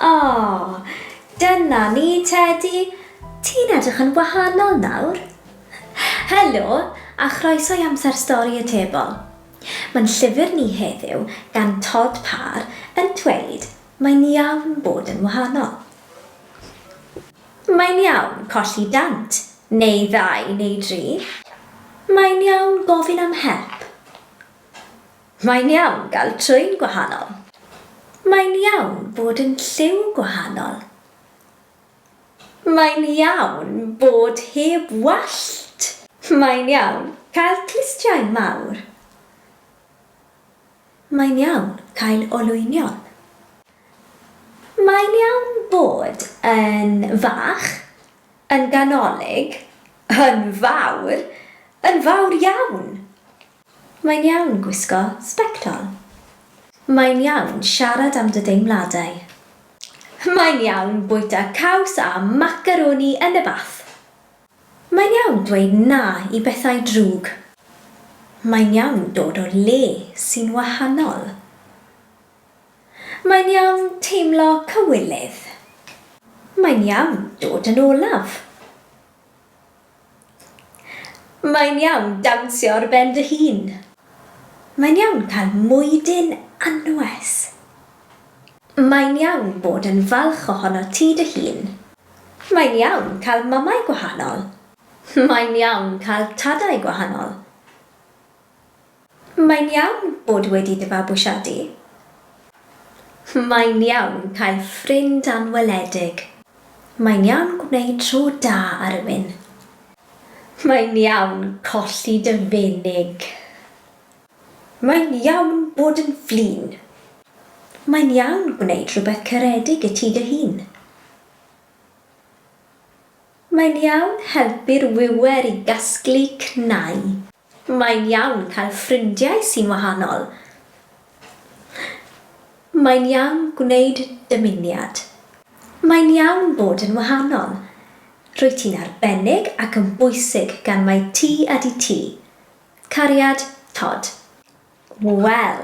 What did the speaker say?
oh, dyna ni, Teddy. Ti'n edrych yn wahanol nawr. Helo, a chroeso i amser stori y tebol. Mae'n llyfr ni heddiw gan Todd Parr yn dweud mae'n iawn bod yn wahanol. Mae'n iawn colli dant, neu ddau neu dri. Mae'n iawn gofyn am help. Mae'n iawn gael trwyn gwahanol. Mae'n iawn bod yn lliw gwahanol. Mae'n iawn bod heb wallt. Mae'n iawn cael clustiau mawr. Mae'n iawn cael olwynion. Mae'n iawn bod yn fach, yn ganolig, yn fawr, yn fawr iawn! Mae'n iawn gwisgo sbectol. Mae'n iawn siarad am dy deimladau. Mae'n iawn bwyta caws a macaroni yn y bath. Mae'n iawn dweud 'na' i bethau drwg. Mae'n iawn dod o le sy'n wahanol. Mae'n iawn teimlo cywilydd. Mae'n iawn dod yn olaf. Mae'n iawn dawnsio ar ben dy hun. Mae'n iawn cael mwydyn anwes. Mae'n iawn bod yn falch ohono ti dy hun. Mae'n iawn cael mamau gwahanol. Mae'n iawn cael tadau gwahanol. Mae'n iawn bod wedi dy fabwysiadu. Mae'n iawn cael ffrind anweledig. Mae'n iawn gwneud tro da ar rywun. Mae'n iawn colli dy fenig. Mae'n iawn bod yn flin. Mae'n iawn gwneud rhywbeth caredig i ti dy hun. Mae'n iawn helpu'r wiwer i gasglu cnau. Mae'n iawn cael ffrindiau sy'n wahanol. Mae'n iawn gwneud dymuniad. Mae'n iawn bod yn wahanol. Rwyt ti'n arbennig ac yn bwysig gan mai ti ydy ti. Cariad, Todd. Wel,